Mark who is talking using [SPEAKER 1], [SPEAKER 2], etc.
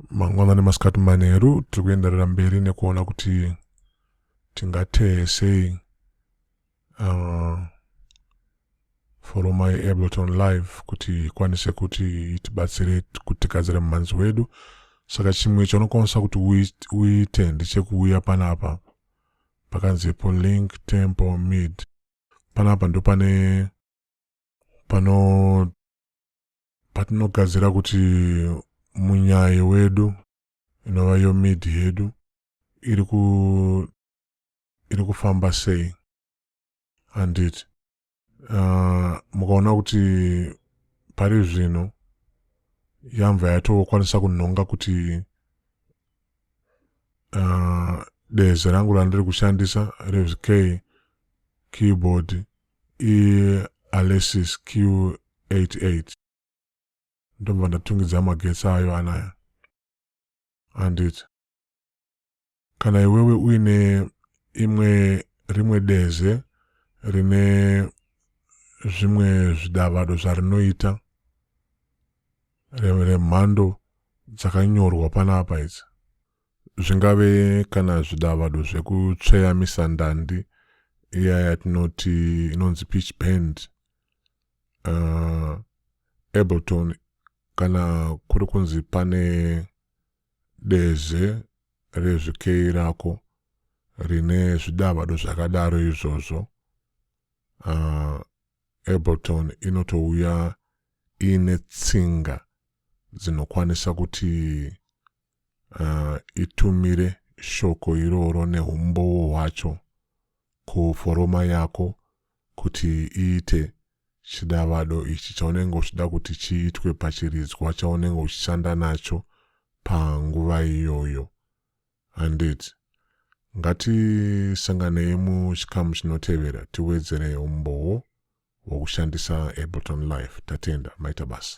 [SPEAKER 1] mangwanani masikati manheru tiri kuenderera mberi nekuona kuti tingateye sei uh, foroma yeableton live kuti ikwanise kuti itibatsire kutigadzira mumhanzi wedu saka chimwe chaunokwanisa kuti uite ndechekuuya panapa pakanzi polink temple mid panapa ndopane pano patinogadzira kuti munyayo wedu inova yo mid yedu iri ku iri kufamba sei handiti uh, ah, mukaona kuti pari zvino yamva yatokwanisa kunhonga kuti uh, deze rangu randiri kushandisa revk keyboard ialesis q88 ndobva ndatungidza magetsi ayo anaya handiti kana iwewe uine imwe rimwe deze rine zvimwe zvidavado zvarinoita remhando dzakanyorwa panapa idzi zvingave kana zvidavado zvekutsveya misandandi iya yatinoti inonzi pitch band uh, ableton kana kuri kunzi pane deze rezvikei rako rine zvidavado zvakadaro izvozvo uh, ableton inotouya iine tsinga dzinokwanisa kuti uh, itumire shoko iroro neumbowo hwacho kuforoma yako kuti iite chidavado ichi chaunenge uchida kuti chiitwe pachiridzwa chaunenge uchishanda nacho panguva iyoyo Handiti? Ngatisanganei muchikamu chinotevera tiwedzere umbowo hwokushandisa Ableton Live. Tatenda, maita basa.